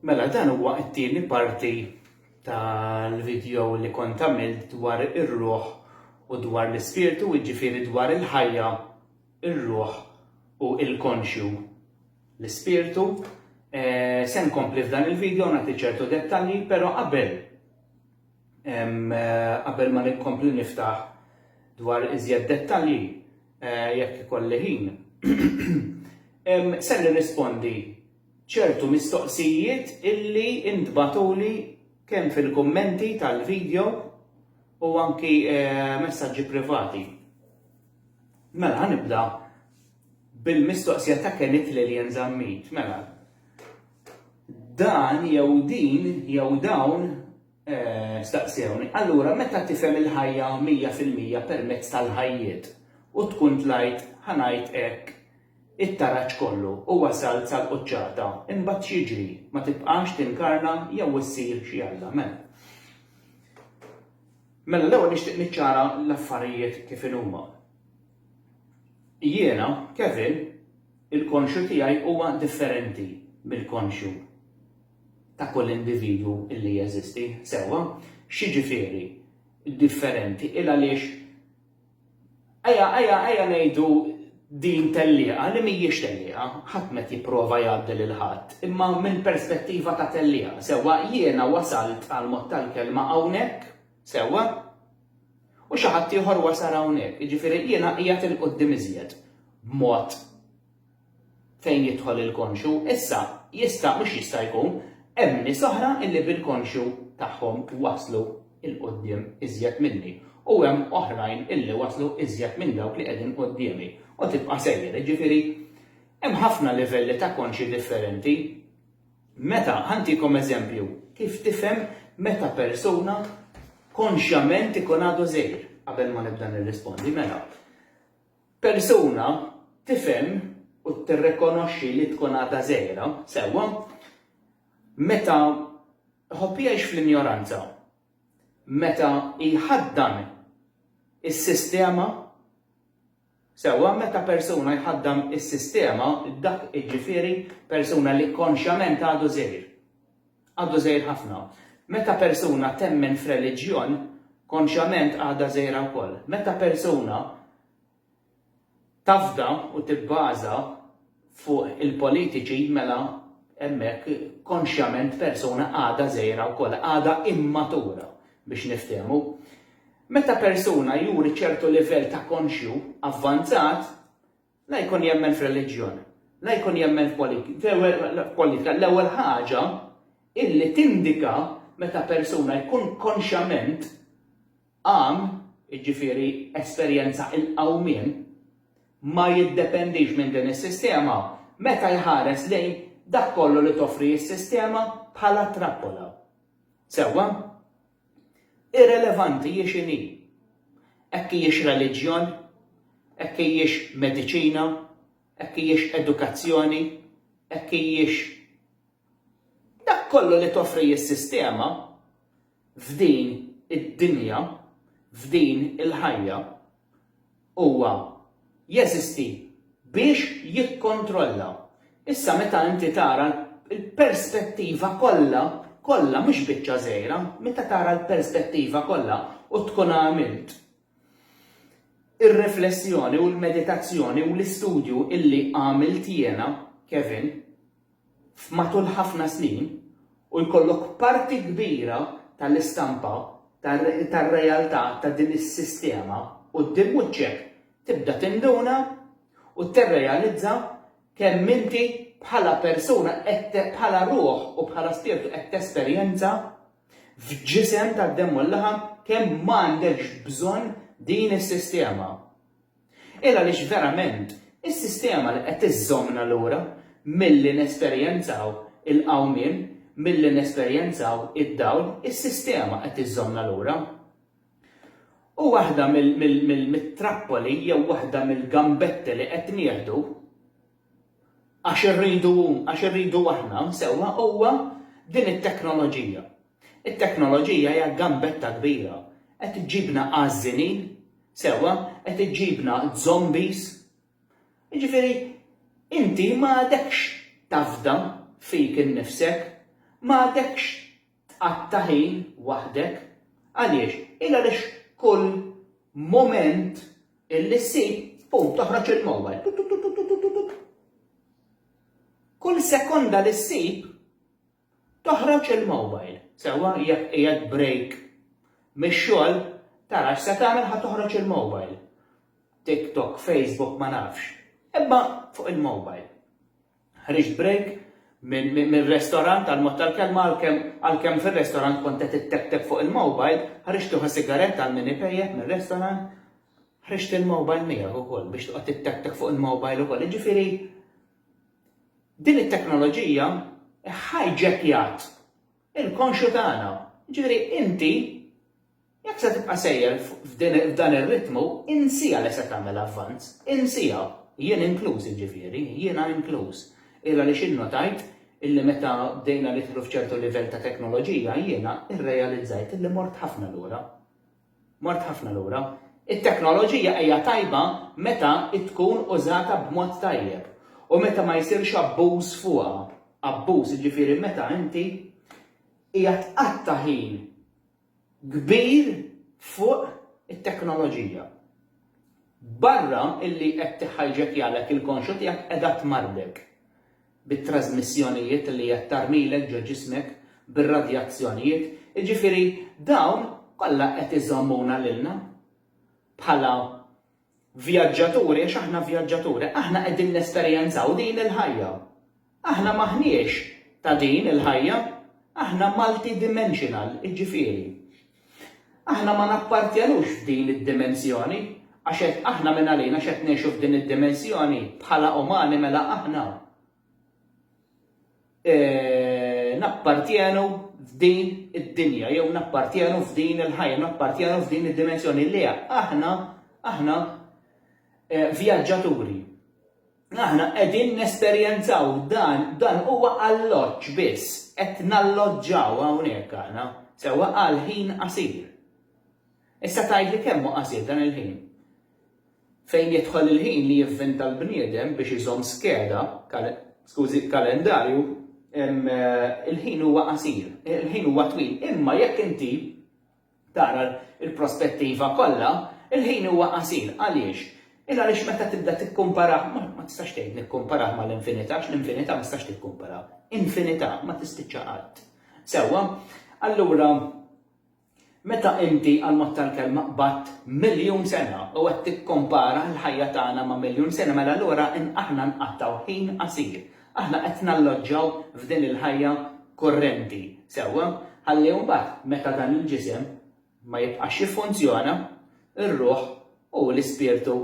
Mela dan huwa t-tieni parti tal-video li kont għamilt dwar ir-ruħ u dwar l-ispirtu, jiġifieri dwar il-ħajja, ir-ruħ u l-konxju, l-ispirtu. Eh, se nkompli f'dan il-video nagħti ċertu dettalji, però qabel Qabel ma nkompli niftaħ dwar iżjed dettalji, jekk ikolli ħin, ser nirrispondi ċertu mistoqsijiet illi intbagħtuli kemm fil-kummenti tal-vidjo u anki messaġġi privati. Mela ħa nibda Bil-mistoqsija ta' Kenneth Lillian Zammit, mela, dan jew din jew dawn staqsewni, allura meta tifhem il-ħajja mija fil-mija permezz tal-ħajjiet u tkun tlajt, ħa ngħid hekk, it-taraġ kollu u wasalt sal-quċċata, imbagħad x'jiġri? Ma tibqax tinkarna jew issir xi Alla? Mela, mela l-ewwel nixtieq niċċara l-affarijiet kif inhuma. Jiena, Kevin, il-konxju tiegħi huwa differenti mill-konxju ta' kull individwu li jeżisti, sewwa? X'jiġifieri differenti? Il għaliex ejja ejja ejja ngħidu din tellieqa li mhijiex tellieqa, ħadd m'qed jipprova jgħaddi lil ħadd, imma minn perspettiva ta' tellieqa, sewwa, jiena wasalt għall-mod tal-kelma hawnhekk, sewwa, U xi ħadd ieħor wasal hawnhekk, jiġifieri jiena qiegħed 'il quddiem iżjed b'mod fejn jidħol il-konxju. Issa, jista', mhux jista' jkun, hemm nies oħra illi bil-konxju tagħhom waslu 'il quddiem iżjed minni u hemm oħrajn illi waslu iżjed minn dawk li qegħdin quddiemi. U tibqa' sejjer, jiġifieri hemm ħafna livelli ta' konxji differenti. Meta, ħa ntikom eżempju, kif tifhem meta persuna konxjament ikun għadu żgħir? Qabel ma nibda nirrispondi, mela, persuna tifhem u tirrikonoxxi li tkun għadha żgħira, sewwa, meta ħobb jgħix fl-injoranza, meta jħaddan is-sistema Sewwa meta persuna jħaddam is-sistema, dak iġġifieri persuna li konxjament għadu żgħir. Għadu żgħir ħafna. Meta persuna temmen f'reliġjon, konxjament għadha żgħira wkoll. Meta persuna tafda u tibbaża fuq il-politiċi mela hemmhekk konxjament persuna għadha żgħira wkoll, għadha immatura biex niftehmu. Meta persuna juri ċertu livell ta' konxju avvanzat, la jkun jemmen f'reliġjon, la jkun jemmen f'politika, l-ewwel ħaġa illi tindika meta persuna jkun konxjament qam, jiġifieri esperjenza l-qawmien, ma jiddependix minn din is-sistema, meta jħares lejn dak kollu li toffri s-sistema bħala trappola. Sewwa? Irrelevanti hi x'inhi. Hekk hijiex reliġjon, hekk hijiex mediċina, hekk hijiex edukazzjoni, hekk hijiex dak kollu li toffri s-sistema f'din id-dinja, f'din il-ħajja. huwa jeżisti biex jikkontrolla. Issa meta inti tara l-perspettiva kollha, kollha mhux biċċa żgħira, meta tara l-perspettiva kollha u tkun għamilt ir-riflessjoni u l-meditazzjoni u l-istudju illi għamilt jiena, Kevin, f'matul ħafna snin u jkollok parti kbira tal-istampa tar-realtà ta' din is-sistema quddiem wiċċek, tibda tinduna u tirrealizza kemm inti bħala persuna qed bħala ruħ u bħala spirtu qed tesperjenza f'ġisem tad-demm u l-laħam kemm m'għandekx bżonn din is-sistema. Il għaliex verament is-sistema li qed iżżommna lura milli nesperjenzaw il-qawmien, milli nesperjenzaw id-dawl, is-sistema qed iżżommna lura. U waħda mit-trappoli jew waħda mill-gambetti li qed nieħdu għax irridu hu, għax irridu aħna, sewwa, huwa din it-teknoloġija. It-teknoloġija hija gambetta kbira. Qed iġġibna għażżinin, sewwa, qed iġġibna zombies. Jiġifieri, inti ma għadekx tafda fik innifsek, ma għadekx Tqatta' ħin waħdek. Għaliex? Il għaliex kull mument illi ssib, pum, toħroġ il-mowbajl. Tut, tut, tut, tut, tut, tut. Kull sekonda li ssib, toħroġ il-mowbajl. Sewa jekk qiegħed break mix-xogħol tara x'se tagħmel ħa toħroġ il-mowbajl. TikTok, Facebook ma nafx. Imma fuq il-mowbajl. Ħriġt break mir-restorant tal-mod tal-kelma għalkemm għalkemm fir-restorant kont qed itteptep fuq il-mowbajl, ħriġt uħu sigaretta għal min ipejjep mir-restorant, ħriġt il-mowbajl miegħek ukoll biex toqgħod titteptek fuq il-mowbajl ukoll. Jiġifieri din it-teknoloġija ħajġekjat il-konxju tagħna. Jiġifieri inti Jekk se tibqa' sejjer f'dan ir-ritmu, insiha li se tagħmel avvanz. Insiha. Jien inkluż, jiġifieri. Jiena inkluż. Il għaliex innotajt illi meta bdejna nidħlu f'ċertu livell ta' teknoloġija, jiena rrealizzajt illi mort ħafna lura. Mort ħafna lura. It-teknoloġija hija tajba meta tkun użata b'mod tajjeb u meta ma jsirx abbuż fuqha. Abbuż, jiġifieri meta inti qiegħed tqatta' ħin kbir fuq it-teknoloġija. Barra illi qed tiħhajġekjalek il-konxu tiegħek qiegħda tmarrdek bit-trażmissjonijiet li qed tarmilek ġo ġismek bir-radjazzjonijiet, jiġifieri dawn kollha qed iżommuna lilna bħala Vjaġġaturi għax aħna vjaġġaturi. Aħna qegħdin nesperjenzaw din il-ħajja. Aħna m'aħniex ta' din il-ħajja. Aħna multidimensional, iġġifieri. Aħna ma nappartjenux f'din id-dimensjoni għax qed aħna mingħalina x'qed ngħixu f'din id-dimensjoni bħala umani mela aħna nappartjenu f'din id-dinja, jew nappartjenu f'din il-ħajja, nappartjenu f'din id-dimensjoni li aħna, aħna eh, vjaġġaturi. Aħna qegħdin nesperjenzaw dan, dan huwa alloġġ biss, qed nalloġġaw hawnhekk aħna, sewwa għal ħin qasir. Issa tgħid li kemm qasir dan il-ħin. Fejn jidħol il-ħin li jivvinta l-bniedem biex iżomm skeda, skużi, kalendarju, il-ħin huwa qasir, il-ħin huwa twil, imma jekk inti tara l-prospettiva kollha, il-ħin huwa qasir. Għaliex? Il-għaliex meta tibda tikkumparah, ma tistax tgħid nikkumparah mal-infinità, għax l-infinità ma tistax tikkumpara. Infinità ma tispiċċa qatt. Sewwa? Allura, Meta inti għall-mod tal-kelma qbadt miljun sena u qed tikkompara l-ħajja tagħna ma' miljun sena mela allura aħna nqattgħu ħin qasir. Aħna qed nalloġġaw f'din il-ħajja kurrenti, sewwa, ħalli mbagħad meta dan il-ġisem ma jibqax jiffunzjona, ir-ruħ u l-ispirtu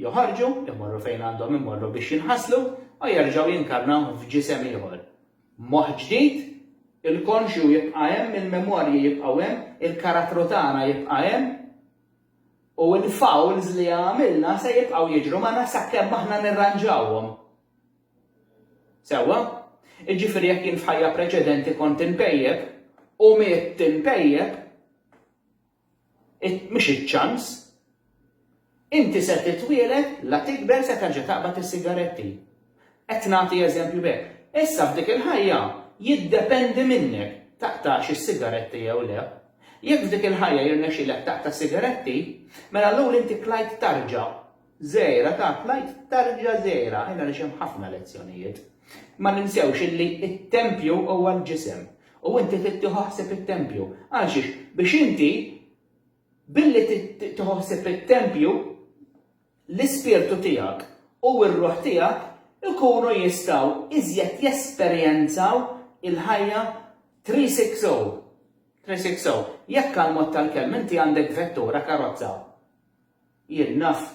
joħorġu, imorru fejn għandhom imorru biex jinħaslu u jerġgħu jinkarnaw f'ġisem ieħor. Moħħ ġdid, il-konxju jibqa' hemm, il-memorji jibqgħu hemm, il-karattru tagħna jibqa' hemm, u l-fouls li għamilna se jibqgħu jiġru magħna sakemm aħna nirranġawhom. Sewwa? Jiġifieri jekk jien f'ħajja preċedenti kont inpejjep, u mitt inpejjep, Mhux iċ-ċans. Inti se titwieled, la tikber se terġa' taqbad is-sigaretti. Qed nagħti eżempju b'hekk. Issa f'dik il-ħajja jiddependi minnek taqtax is-sigaretti jew le. Jekk f'dik il-ħajja jirnexxilek taqta' s-sigaretti, mela allura inti klajt tarġa. Żgħira tat l-Għid tarġa' żgħira għajr għaliex hemm ħafna lezzjonijiet. Ma ninsewx illi t-tempju huwa l-ġisem u inti trid tieħu ħsieb it-tempju. Għalxiex? Biex inti billi tieħu ħsieb it-tempju l-ispirtu tiegħek u r-ruħ tiegħek ikunu jistgħu iżjed jesperjenzaw il-ħajja 360. 360. Jekk għall-mod tal-kelma inti għandek vettura, karozza. Jien naf.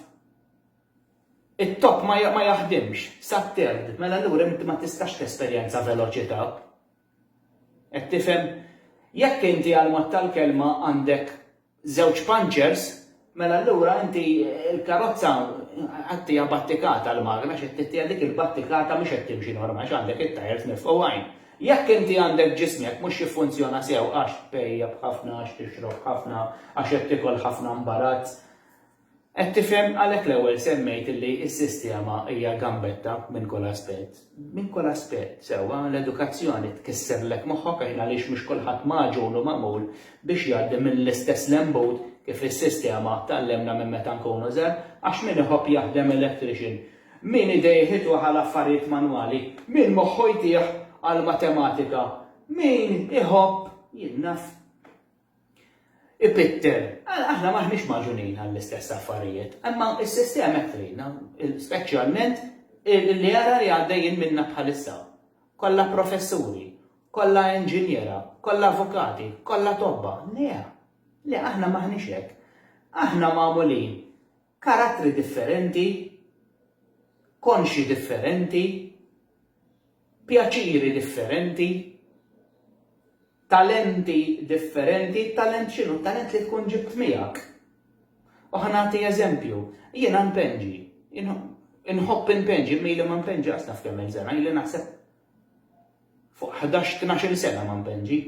It-top ma ma jaħdimx sat-third, mela allura inti ma tistax tesperjenza veloċità. Qed tifhem? Jekk inti għal mod tal-kelma għandek żewġ punchers, mela allura inti l-karozza qed tiha battikata l-magna xi ttittija dik il-battikata mhux qed timxi normal għax għandek it-tajers mifqugħin. Jekk inti għandek ġismek mhux jiffunzjona sew għax tpejjep ħafna, għax tixrob ħafna, għax qed tiekol ħafna mbarazz, qed tifhem? Għalhekk l-ewwel semmejt li s-sistema hija gambetta minn kull aspett. Minn kull aspett, sewwa, l-edukazzjoni tkisserlek moħħok għax għaliex mhux kulħadd magħġun u magħmul biex jgħaddi mill-istess lembut kif is-sistema tgħallimna minn meta nkunu żgħar, għax min iħobb jaħdem electrician Min idejh itwegħ għal affarijiet manwali, min moħħu jtih għall-matematika, min iħobb jinnaf ipitter. Aħna m'aħniex magħġunin għall-istess affarijiet, imma s-sistema qed tgħinna, speċjalment li ara li għaddejjin minna bħalissa. Kollha professuri, kollha inġiniera, kollha avukati, kollha tobba. Le, le aħna m'aħniex hekk. Aħna magħmulin Karattri differenti, konxi differenti, pjaċiri differenti, talenti differenti, talent x'inhu? Talent li tkun ġibt miegħek. U ħa nagħti eżempju, jiena npenġi, inħobb inpenġi, mili ma npenġi għas naf kemm il-sena, ili naħseb fuq 11-12 sena ma npenġi.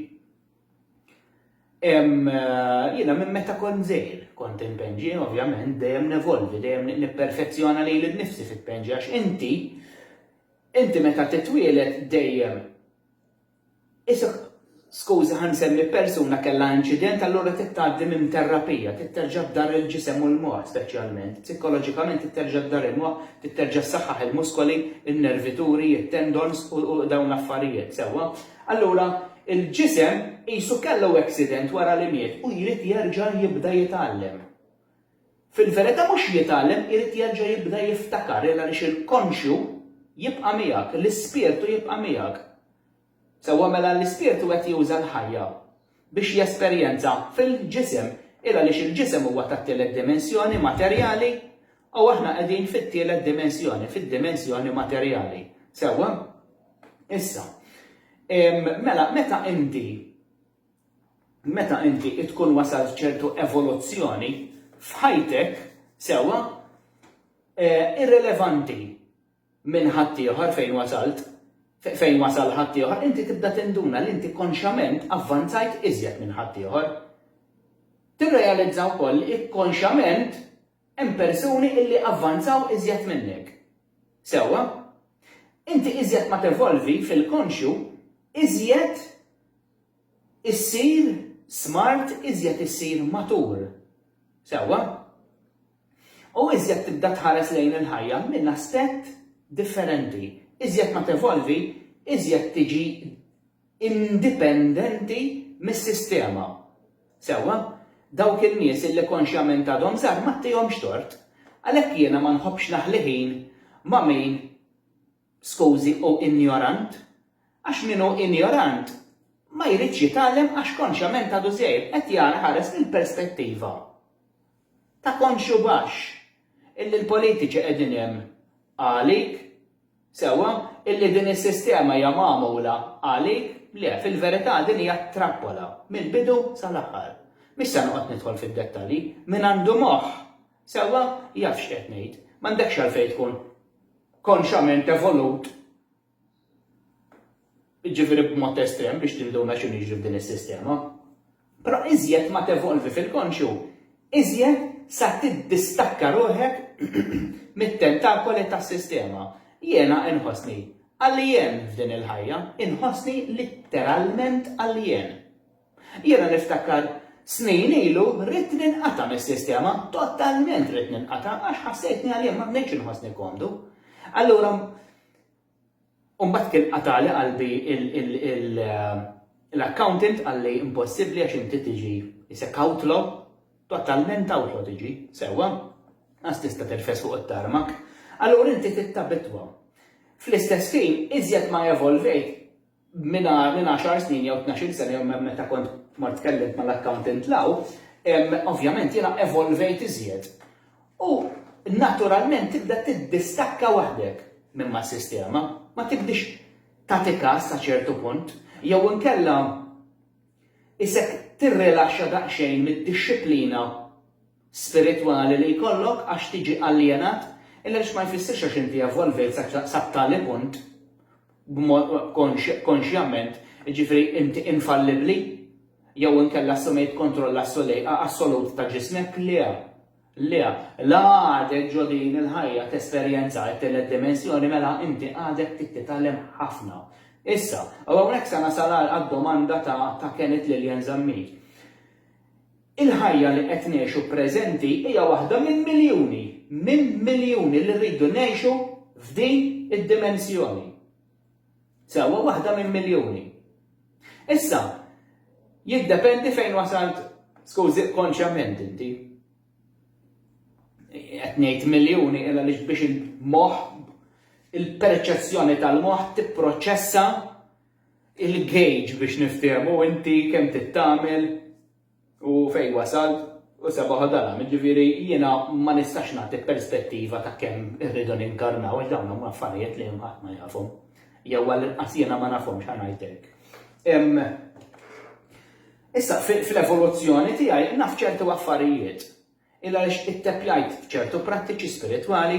Hemm jiena minn meta kont żgħir, kont inpenġi, ovvjament, dejjem nevolvi, dejjem nipperfezzjona lili nnifsi f'penġi għax inti inti meta titwieled dejjem isek skuża ħa nsemmi persuna kellha inċident allura trid tgħaddi minn terrapija, trid terġa' ddarr il-ġisem u l-moħħ speċjalment, psikoloġikament trid terġa' ddarr il-moħħ, trid terġa' ssaħħaħ il-muskoli, in-nervituri, it-tendons u dawn l-affarijiet, sewwa? Allura, il-ġisem qisu kellu accident wara li miet u jrid jerġa' jibda jitgħallem. Fil-verità mhux jitgħallem, irid jerġa' jibda jiftakar il għaliex il-konxju jibqa' miegħek, l-ispirtu jibqa' miegħek. Sewwa mela l-ispirtu qed juża l-ħajja. biex jesperjenza fil-ġisem, il għaliex il-ġisem huwa tat-tielet dimensjoni materjali u aħna qegħdin fit-tielet dimensjoni, fid-dimensjoni materjali. Sewwa? Issa, mela meta inti meta inti tkun wasalt ċertu evoluzzjoni f'ħajtek, sewwa, eh, irrelevanti minn ħaddieħor fejn wasalt, fejn wasal ħaddieħor, inti tibda tinduna li inti konxjament avvanzajt iżjed minn ħaddieħor. Tirrealizza wkoll li ikkonxjament hemm persuni illi avvanzaw iżjed minnek. Sewwa? Inti iżjed ma tevolvi fil-konxju, iżjed issir smart, iżjed issir matur. Sewwa? U iżjed tibda tħares lejn il-ħajja minn aspett differenti. Iżjed ma tevolvi, iżjed tiġi indipendenti mis-sistema. Sewwa? Dawk in-nies illi konxjament għadhom żgħar m'għattihomx tort. Għalhekk jiena ma nħobbx naħli ħin ma' min Skużi, hu injorant? Għax min hu injorant ma jridx jitgħallem għax konxjament għadu żgħir, qed jara ħares mill-perspettiva ta' konxju baxx illi l-politiċi qegħdin hemm għalik, sewwa, illi din is-sistema hija magħmula għalik, le, fil-verità din hija trappola mill-bidu sal-aħħar. Mhix se noqgħod nidħol fid-dettalji, min għandu moħħ Sewwa, jaf x'qed ngħid. M'għandekx għalfejn tkun konxament evolut, jiġifieri b'mod estrem biex tinduna x'inhu jiġri f'din is-sistema. Però iżjed ma tevolvi fil-konxju, iżjed sa tiddistakka ruħek mit-tentakoli tas-sistema. Jiena inħossni alien f'din il-ħajja, inħossni litteralment alien. Jiena niftakar snin ilu ridt ninqata' mis-sistema, totalment ridt ninqata' għax ħassejtni għalija ma bnejtx inħossni komdu. Allura mbagħad kien qatagħli qalbi l-accountant qalli impossibbli għax inti tiġi isek outlaw, totalment outlaw tiġi, sewwa, qas tista' tirfes fuq it-tarmak. Allura inti trid tabitwa. Fl-istess ħin, iżjed ma evolvejt, minn għaxar snin jew tnax-il sena jew minn meta kont mort tkellimt mal-accountant Lau, ovvjament jiena evolvejt iżjed. U naturalment tibda tiddistakka waħdek minn mas-sistema, ma tibdiex tagħti kas sa ċertu punt, jew inkella qisek tirrilaxxa daqsxejn mid-dixxiplina spiritwali li jkollok għax tiġi aljenat għaliex ma jfissirx għax inti evolvejt sa tali punt b'mod konxjament, jiġifieri inti infallibbli jew inkella assumejt kontroll assolut ta' ġismek, le, le, la għadek ġo din il-ħajja tesperjenza t-tielet dimensjoni mela inti għadek trid titgħallem ħafna. Issa, u hawnhekk se nasal għad-domanda ta' can it lillian zammit. Il-ħajja li qed ngħixu preżenti hija waħda minn miljuni, minn miljuni li rridu ngħixu f'din id-dimensjoni. Sewwa waħda minn miljuni. Issa, jiddependi fejn wasalt skużi konxjament inti. Qed ngħid miljuni illa li biex il-moħħ il-perċezzjoni tal-moħħ tipproċessa il-gauge biex niftehmu inti kemm trid tagħmel u fejn wasalt u seba' ħodalhom. Jiġifieri jiena ma nistax nagħti perspettiva ta' kemm irridu ninkarnaw għax dawn huma affarijiet li hemm ħadd ma jafhom. Jew għall-inqas jiena ma nafhomx ħa ngħid hekk. Issa fl-evoluzzjoni tiegħi naf ċertu affarijiet il għaliex itteppjajt f'ċertu prattiċi spiritwali,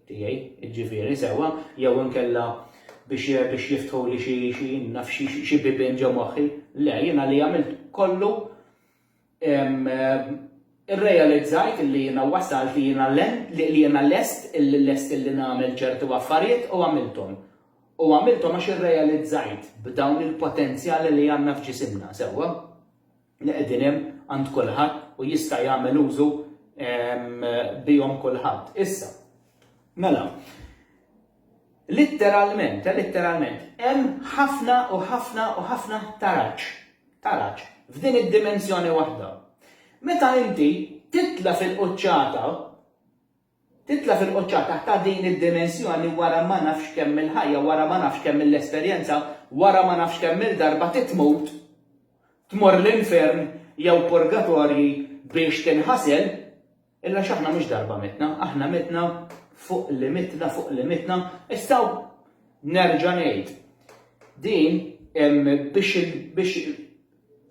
tiegħi, jiġifieri, sewwa, jew inkella biex biex jiftħuli xi xi naf xi xi bibien ġo moħħi. Le, jiena li għamilt kollu irrealizzajt li jiena wasalt li jiena li jiena lest lest li nagħmel ċertu affarijiet u għamilthom. U għamilthom għax irrealizzajt b'dawn il-potenzjali li għandna f'ġisimna, sewwa. li qegħdin hemm għand kulħadd u jista' jagħmel użu bihom kulħadd. Issa, mela, litteralment, eh, litteralment, hemm ħafna u ħafna u ħafna taraġ, taraġ, f'din id-dimensjoni waħda. Meta inti titla fil-quċċata, Titla' fil-quċċata ta' din id-dimensjoni wara ma nafx kemm-il ħajja, wara ma nafx kemm-il esperjenza, wara ma nafx kemm-il darba titmut, tmur l-infern jew purgatorji biex tinħasel, illa x'aħna mhux darba mitna, aħna mitna fuq li mitna fuq li mitna, issa nerġa' ngħid, din biex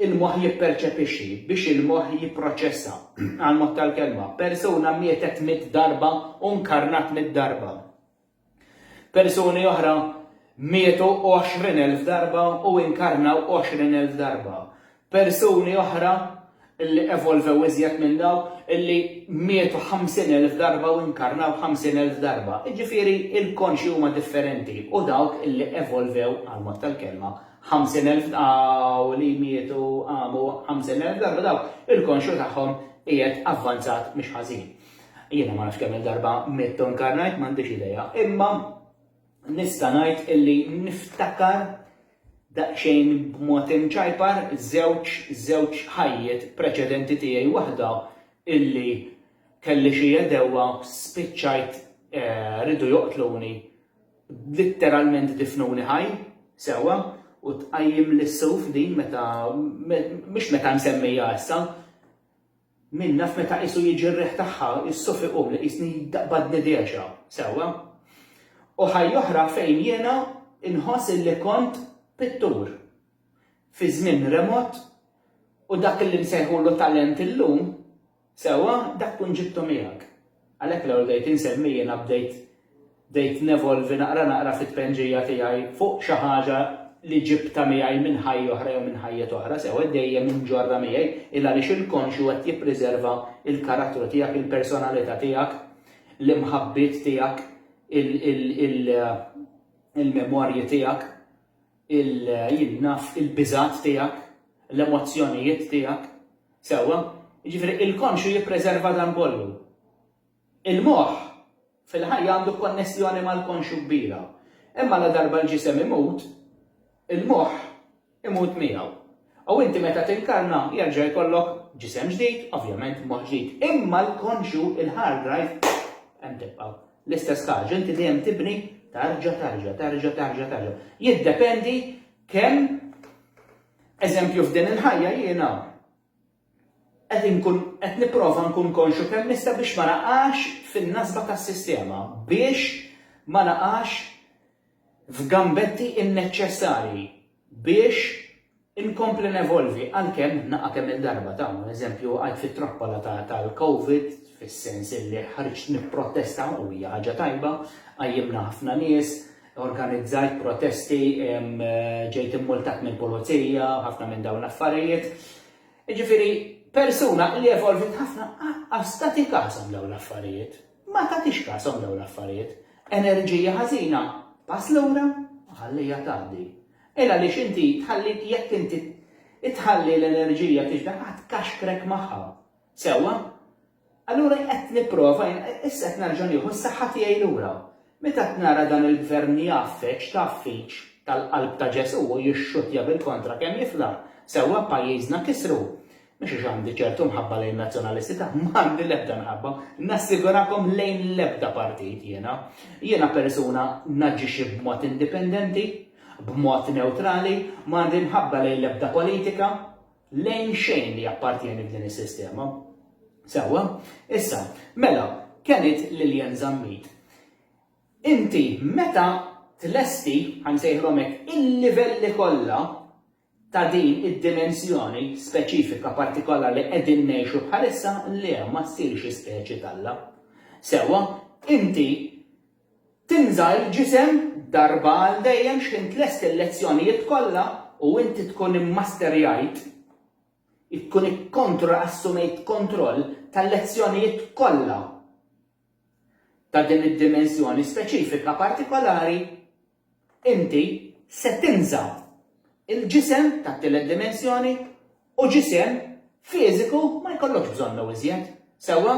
il-moħħ jipperċepixxi, biex il-moħħ jipproċessa, għall-mod tal-kelma, persuna mietet mitt darba u nkarnat mitt darba. Persuni oħra mietu għoxrin elf darba u inkarnaw għoxrin elf darba. Persuni oħra illi evolvew iżjed minn daw illi mietu 50,000 darba u inkarnaw 50,000 darba. Iġifiri il-konxi huma differenti u dawk illi evolvew għal mod tal-kelma ħamsin elf ta' u li mietu għamu ħamsin elf darba dawk il-konxu tagħhom qiegħed avvanzat mhux ħażin. Jiena ma nafx kemm darba mittu nkarnajt m'għandix idea, imma nista' ngħid illi niftakar daqsxejn b'mod imċajpar żewġ żewġ ħajjiet preċedenti tiegħi waħda illi kelli xi għedewwa spiċċajt eh, ridu joqtluni Litteralment difnuni ħaj, sewwa, u tqajjimli s-sewf din meta, mhix meta msemmija issa, min naf meta qisu jiġi r-riħ tagħha, is-sewf iqum li qisni jaqbadni dehxa, sewwa. U ħajja oħra fejn jiena nħoss illi kont pittur, fi żmien remot, u dak illi nsejħulu talent illum, Sewwa, dak tkun ġibtu miegħek. Għalhekk l-ewwel bdejt insemmi jiena bdejt bdejt nevolvi naqra naqra fit-tpennġija tiegħi fuq xi ħaġa li ġibtha miegħi minn ħajja oħra jew minn ħajjet oħra, sewwa qed dejjem inġorrha miegħi, il għaliex il-konxju qed jippriserva l-karattru tiegħek, il-personalità tiegħek, l-imħabbiet tiegħek, il-memorji tiegħek, il jien naf il-biżgħat tiegħek, l-emozzjonijiet tiegħek, Sewwa, jiġifieri il-konxju jippreserva dan kollu. Il-moħħ fil-ħajja għandu konnessjoni mal-konxju kbira. Imma ladarba l-ġisem imut, il-moħħ imut miegħu. U inti meta tinkarna jerġa' jkollok ġisem ġdid, ovvjament moħħ ġdid. Imma l-konxju, il-hard drive, hemm tibqa'. L-istess ħaġa, inti dejjem tibni tarġa tarġa, tarġa tarġa tarġa. Jiddependi kemm Eżempju f'din il-ħajja jiena qed inkun qed nipprova nkun konxju kemm nista' biex ma naqax fin-nasba tas-sistema, biex ma naqax f'gambetti inneċċessarji, biex inkompli nevolvi għalkemm naqa' kemm il-darba, ta' eżempju għidt fit-trappola tal-Covid fis-sens illi ħriġt nipprotesta u hija ħaġa tajba, qajjimna ħafna nies, organizzajt protesti, ġejt immultat mill-pulizija, ħafna minn dawn l-affarijiet. Ġifiri, persuna li evolvit ħafna għastati kasom dawn l-affarijiet. Ma tatix kasom dawn l-affarijiet. Enerġija ħażina, pass l-ura, ħallija tgħaddi. Ela li xinti tħalli jekk inti tħalli l-enerġija tiġda ħadd kaxkrek magħha. Sewa, Allura qed nipprova jien, issa qed nerġa' nieħu s-saħħa tiegħi lura. Meta qed nara dan il-Gvern jgħaffeġ, tgħaffieġ, tal-qalb ta' Ġesù u jixxuttja bil-kontra kemm jifla, sewwa pajjiżna kisru. Mhux għax għandi ċertu mħabba lejn nazzjonalisti, ta' m'għandi l-ebda mħabba, nassigurakom lejn l-ebda partit jiena. Jiena persuna naġixxi b'mod indipendenti, b'mod newtrali, m'għandi mħabba lejn l-ebda politika, lejn xejn li jappartjeni f'din is-sistema. Sewwa, issa, mela, kemm għidt Lillian Zammit, inti meta tlesti, ħa nsejħilhom hekk, il-livelli kollha ta' din id-dimensjoni speċifika partikola li qegħdin ngħixu bħalissa le ma ssirx ispeċi t'Alla. Sewwa, inti Tinżgħar il-ġisem darba għal dejjem x'ħin tlest il-lezzjonijiet kollha u inti tkun immasterjajt, tkun ikkontroll, assumejt kontroll tal-lezzjonijiet kollha ta' din id-dimensjoni speċifika partikolari, inti se tinżgħar il-ġisem tat-tielet dimensjoni u ġisem fiżiku ma jkollokx bżonnu iżjed. Sewwa?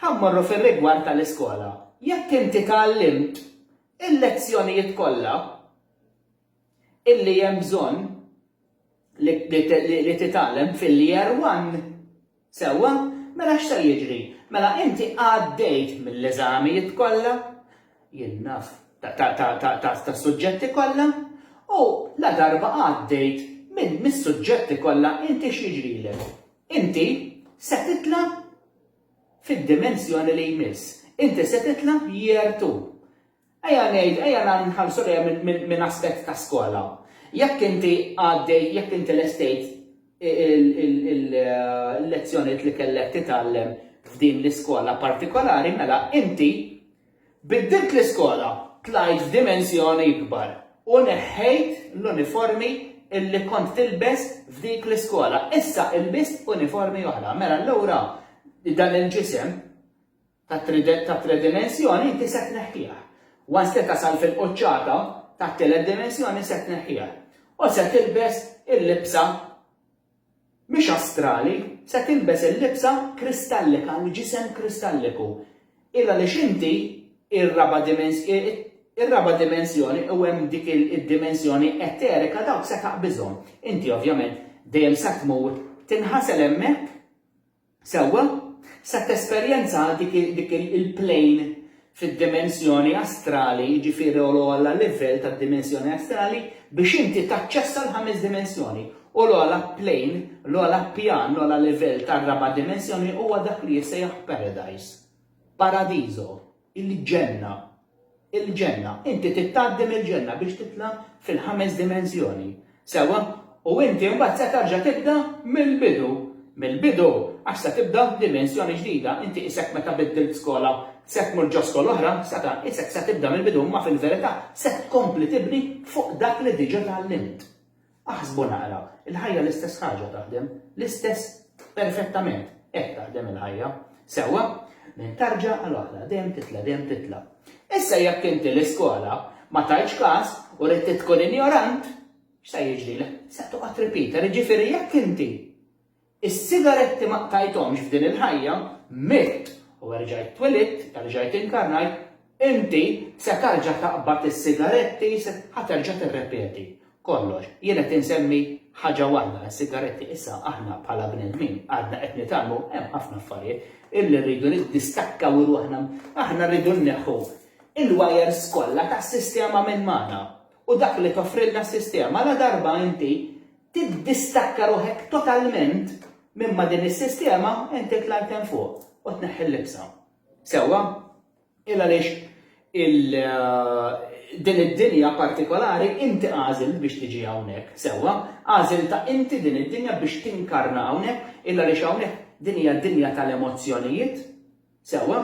Ħa mmorru fir-rigward tal-iskola. Jekk inti tgħallimt il-lezzjonijiet kollha illi hemm bżonn li titgħallem fil-Year One, sewwa, mela x'se jiġri? Mela inti għaddejt mill-eżamijiet kollha, jien naf, tas-suġġetti kollha, u ladarba għaddejt mis-suġġetti kollha inti x'jiġrilek? Inti se titla' fid-dimensjoni li jmiss. Inti se titla' year two. Ejja ngħid, ejja nħarsu lejha minn aspett ta' skola. Jekk inti għaddej, jekk inti lestejt il-lezzjonijiet li kellek titgħallem f'din l-iskola partikolari, mela inti Biddilt l-iskola, tlajt f'dimensjoni ikbar u neħħejt l-uniformi illi kont tilbes f'dik l-iskola. Issa ilbist uniformi oħra. Mela allura dan il-ġisem tat-tridimensjoni inti se tneħħih. Once li tasal fil-quċċata tat-tielet dimensjoni se tneħħih u se tilbes il-libsa Mhix astrali, se tilbes il-libsa kristallika, l-ġisem kristalliku. Il għaliex inti, ir-raba' ir-raba' dimensjoni u hemm dik id-dimensjoni eterika dawk se taqbiżhom. Inti ovvjament dejjem se tmur tinħasel hemmhekk. Sewwa, se tesperjenza dik il-plane fid-dimensjoni astrali, jiġifieri l-ogħla livell tad-dimensjoni astrali, biex inti taċċessa l-ħames dimensjoni. U l-ogħla plane, l-ogħla pjan, l-ogħla livell tar-raba' dimensjoni huwa dak li jissejjaħ paradise. Paradiżo. il-ġenna, il-ġenna, inti trid tgħaddi mill-ġenna biex titla' fil-ħames dimensjoni. Sewwa? U inti mbagħad se terġa' tibda mill-bidu, mill-bidu, għax se tibda dimensjoni ġdida, inti isek meta biddilt skola, se tmur ġo skola oħra, seta', isek se tibda mill-bidu imma fil-verità se tkompli tibni fuq dak li diġa' tgħallimt. Aħsbu naqra, il-ħajja l-istess ħaġa taħdem, l-istess perfettament, hekk taħdem il-ħajja. Sewwa, minn tarġa għal oħra, dejjem titla' dejjem titla'. Issa jekk inti l-iskola ma tajtx każ u rid tkun injorant, x'se jiġrilek? Se toqgħod ripita, jiġifieri jekk inti Is-sigaretti ma qtajthomx f'din il-ħajja, mitt u erġajt twelidt, erġajt inkarnajt, inti se tarġa' taqbad is-sigaretti, se, ħa terġa' tirrepeti kollox. Jien qed insemmi ħaġa waħda, is-sigaretti, issa aħna bħala bnedmin għadna qed nitgħallmu hemm ħafna affarijiet illi rridu niddistakkaw ruħna, aħna rridu nneħħu il-wires kollha tas-sistema minn magħna u dak li toffrilna s-sistema ladarba inti tiddistakka ruħek totalment minn ma' din is-sistema, inti tla' int hemm fuq u tneħħi l-libsa. Sewwa? Il għaliex din id-dinja partikolari inti għażilt biex tiġi hawnhekk, sewwa, għażiltha inti din id-dinja biex tinkarna hawnhekk, illa għaliex hawnhekk din hija dinja tal-emozzjonijiet, sewwa,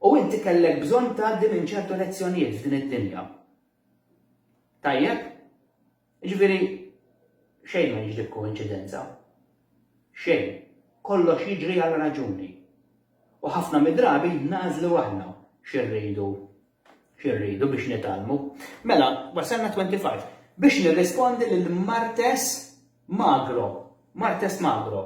u inti kellek bżonn tgħaddi minn ċertu lezzjonijiet f'din id-dinja. Tajjeb? Jiġifieri, xejn ma jiġri b'koinċidenza. Xejn. Kollox jiġri għal raġuni. U ħafna mid-drabi nagħżlu aħna xi rridu xi rridu biex nitgħallmu. Mela, wasalna 25. Biex nirrispondi lil Martes Magro. Martes Magro.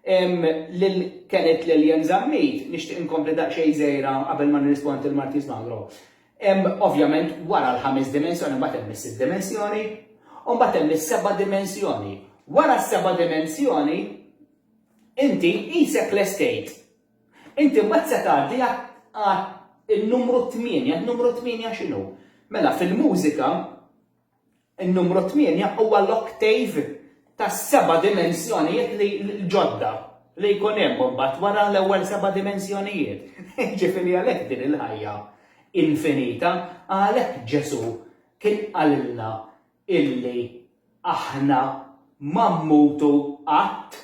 Lil Kenneth Lillian Zammit, nixtieq inkompli daqsxejn żejra qabel ma nirrispondi lil Martes Magro. Hemm ovvjament wara l-ħames dimensjoni mbagħad hemm is-sitt dimensjoni, u mbagħad hemm is-seba' dimensjoni. Wara s-seba' dimensjoni inti qisek lestejt. Inti mbagħad se tgħaddi għal numru tmienja, numru tmienja x'inhu? Mela fil-mużika In-numru tmienja huwa l-oktav tas-seba' dimensjonijiet li l-ġodda li jkun hemm imbagħad wara l-ewwel seba' dimensjonijiet. Jiġifieri għalhekk din il-ħajja infinita, għalhekk Ġesù kien qalilna illi aħna ma mmutu qatt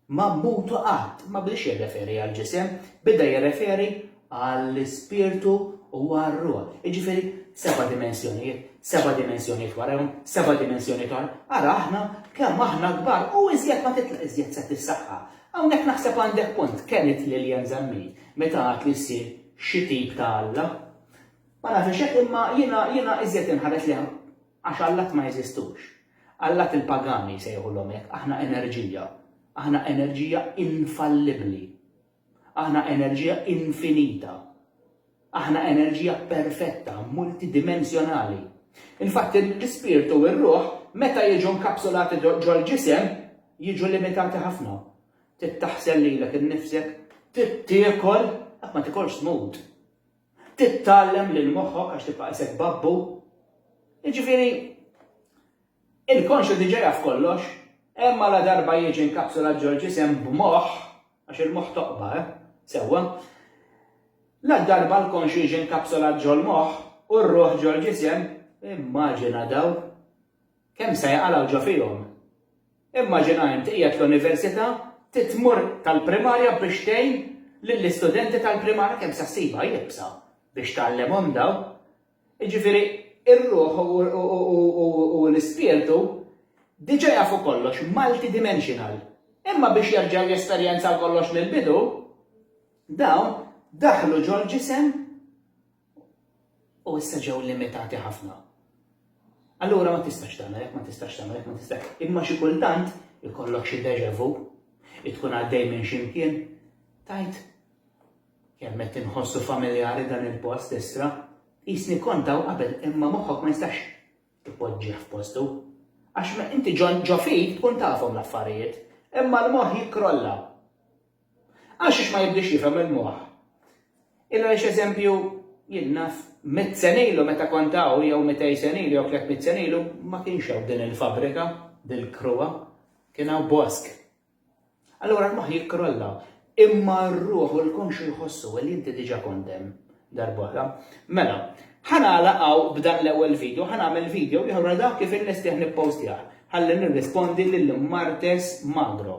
ma mmutu qatt, ma bdiex jirreferi għall-ġisem, beda jirreferi għall-ispirtu u għar-ruħ. Jiġifieri seba' dimensjonijiet, seba' dimensjonijiet warajhom, seba' dimensjonijiet oħra. Ara aħna kemm aħna kbar u iżjed ma titla' iżjed se tissaħħa. Hawnhekk naħseb għandek punt, kenit Lillian Zammit meta għad li ssir xi tip ta' Alla. Ma nafx hekk imma jiena jiena iżjed inħares lejha Għax allat ma jeżistux. Allat il-pagani jsejħulhom hekk, aħna enerġija. Aħna enerġija infallibbli. Aħna enerġija infinita. Aħna enerġija perfetta, multidimensjonali. Infatti l-ispirtu u r-ruħ meta jiġu nkapsulati ġol-ġisem jiġu limitati ħafna. Trid taħsel lilek innifsek, trid tiekol, qatt ma tikolx tmut. Tittgħallem lil moħħok għax tibqa' isek babbu. Jiġifieri, il-konxju diġà jaf kollox, imma ladarba jiġi nkapsulat ġol-ġisem b'moħħ, għax il-moħħ toqba, eh? Sewwa. Ladarba l-konxju jiġi nkapsulat ġol-moħħ u r-ruħ ġol-ġisem, immaġina dawl! Kemm se jaqalgħu ġo fihom? Immaġina int qiegħed l-università trid tmur tal-primarja biex tgħin lill-istudenti tal-primarja kemm se ssibha iebsa biex tgħallimhom dawn. Jiġifieri r-ruħ u l-ispirtu diġà jafu kollox, multidimensional. Imma biex jerġgħu jesperjenzaw kollox mill-bidu, dawn daħlu ġol-ġisem u issa ġew limitati ħafna. Allura ma tistax tagħmel hekk, ma tistax tagħmel hekk, ma tistax. Imma xi kultant ikollok xi deja vu, tkun għaddej minn x'imkien, tajt kemm qed inħossu familjari dan il-post issa, jisni kontaw qabel imma moħħok ma jistax Ipoġġih f'postu. Għax meta inti ġo fik tkun tafhom l-affarijiet, imma l-moħħ jikkrolla. Għax ix ma jibdiex jifhem il-moħħ. Il-għaliex eżempju, jien naf mitt sena ilu meta kont hawn jew mitej sena ilu jew tliet mitt sena ilu ma kienx hawn din il-fabbrika, dil-kruha, kien hawn bosk. Allura l-moħħ jikkrolla. Imma r-ruħ u l-konxju jħossu, well inti diġa kont hemm darba oħra. Mela, ħa nagħlaq hawn b'dan l-ewwel video, ħa nagħmel video ieħor għal dak kif innestih nippostjah, ħalli nirrispondi lil Martes Magro.